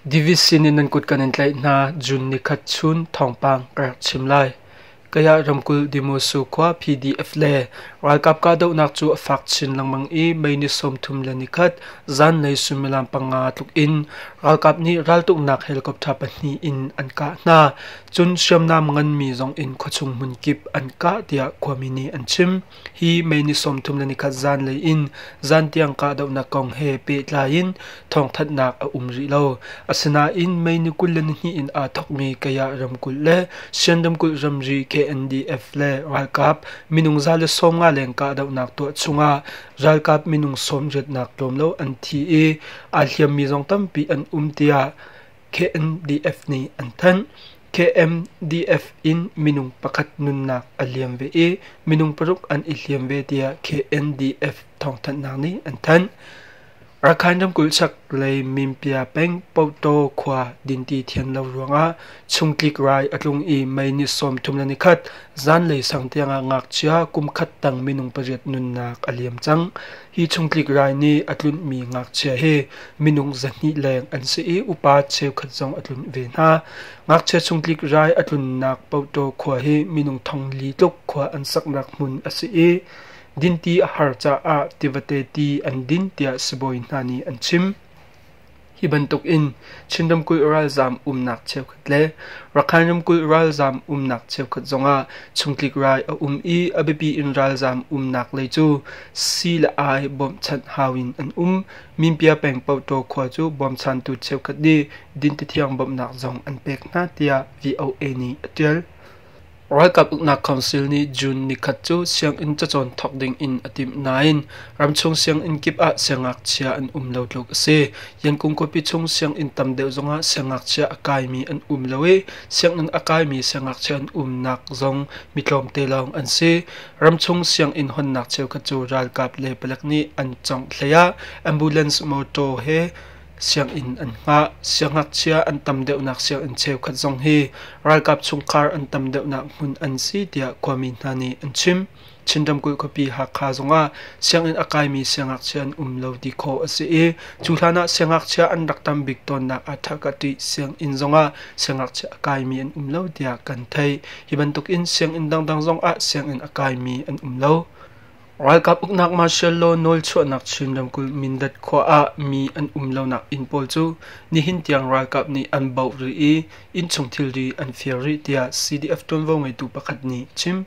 Davis sin in nan kut kan in tlaih hna June nikhat chun thawngpang ka rak chim lai. Kayah ramkulh Dimosu khua PDF le ralkap kahdohnak cu a fak chin lengmang i May ni sawmthum le nikhat zanlei sumilam panga tluk in ralkap nih raltuknak helicopter pahnih in an kah hna. Cun hriamnam nganmi zong in khuachung hmunkip an kah tiah khuami nih an chim. Hi May ni sawmthum le nikhat zanlei in zan tiang kahdohnak kong he pehtlai in thawngthanhnak a um rih lo. Asinain May ni kul le nihnih in aa thokmi Kayah ramkulh le Sian ramkulh ramri KNDF le ralkap minung za le sawmnga leng kahdohnak tuah chungah ralkap minung sawm riatnak tlawm lo an thi i aa hliammi zong tampi an um tiah KNDF nih an thanh. KMDF in minung pakhat nunnak a liam ve i minung paruk an i hliam ve tiah KNDF thawngthanhnak nih an thanh. Rakhine ramkulh chaklei Mimpia peng Pawtaw khua dinti thian lo ruangah chungtlik rai a tlung i mei ni sawm thum le nikhat zanlei sang tiangah ngakchia kum khat tang minung pariat nunnak a liam cang. Hi chungtlik rai nih a tlunhmi ngakchia hi minung zahnih leng an si i upa cheukhat zong a tlunh ve hna. Ngakchia chungtlik rai a tlunnak Pauto khua hi minung thong li tluk khua an saknak hmun a si i dinti a har caah tivate ti an din tiah sibawi hna nih an chim. Hi bantuk in Chin ramkulh ralzaam umnak cheukhat le Rakhine ramkulh ralzaam umnak cheukhat zongah chungtlik rai a um i a biapi in ralzaam umnak lei cu sii le ai bawmhchanh hau in an um. Minpia peng Pawtaw khua cu bawmchantu cheukhat nih dintethiang bawmhnak zong an pek hna tiah VOA nih a ṭial. Ralkap uknak council nih June nikhat cu sianginn cacawn thawk ding in a timh nain ramchung sianginn kip ah siangngakchia an um lo tluk a si. Yankung khuapi chung sianginn tam deuh zongah siangngakchia a kaimi an um lo i sianginn a kaimi siangngakchia an umnak zong mi tlawmte lawng an si. Ramchung sianginn hawnnak cheukhat cu ralkap le palek nih an congh hleiah ambulance mawtaw he sianginn an ngah. Siangngakchia an tam deuhnak sianginn cheukhat zong hi ralkap chungkhar an tam deuhnak hmun an si tiah khuami hna nih an chim. Chin ramkulh khuapi Hakha zongah sianginn a kaimi siangngakchia an um lo ti khawh a si i cu hlan ah siangngakchia an rak tam bik tawnnak Athakati sianginn zongah siangngakchia a kaimi an um lo tiah kan theih. Hi bantuk in sianginn dangdang zongah sianginn a kaimi an um lo. Ralkap uknak Martial law nawlchuahnak Chin ramkulh Mindat khua ah mi an um lonak inn pawl cu nihin tiang ralkap nih an bauh rih i innchung thilri an fir rih tiah CDF tuanvo ngeitu pakhat nih a chim.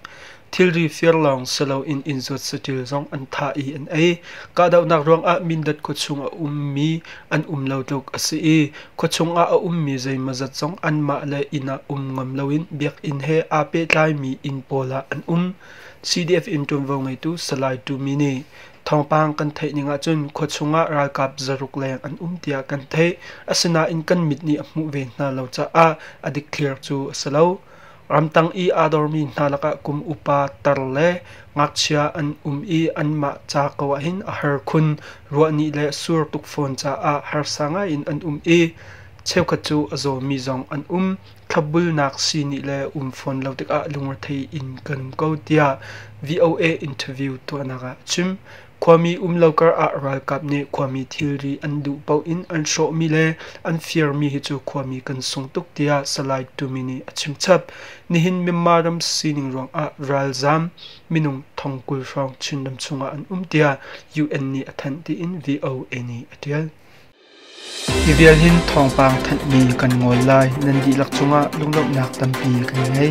Thilri fir lawng si loin inn zuat saṭil zong an thah i an ei. Kahdohnak ruangah Mindat khuachung a ummi an um lo tluk a si i khuachung ah a ummi zeimawzat zong anmah le inn ah um ngam loin biakinn he aa pehtlaimi inn pawl ah an um. CDF in ṭuanvo ngeitu Salai Tu Mi nih thawngpang kan theih ning ahcun khuachung ah ralkap zaruk leng an um tiah kan theih. Asinain kan mit nih a hmuh ve hna lo caah a dikthliar cu a si lo. Ramtang i aa dormi hna lakah kum upa tar le ngakchia an um i anmah ca ko ahhin a har khun. Ruahnih le sur tuk fawn caah harsa ngaiin an um i cheukhat cu a zawmi zong an um. thlabulnak sii nih le um fawn lo tikah lungrethei in kan ko tiah VOA interview tuahnak ah a chim. Khuami um lo kar ah ralkap nih khuami thilri an duh paoh in an hrawhmi le an firmi hi cu khuami kan sung tuk tiah Salai Tumi nih a chim chap. Nihin Myanmar ram sining ruangah ralzam minung thongkul hrawng Chin ram chungah an um tiah UN nih a thanh tiin VOA nih a tial. Hi vial hin thawngpang thanhmi kan ngawl lai nan dihlak cungah lunglawmhnak tampi kan ngei.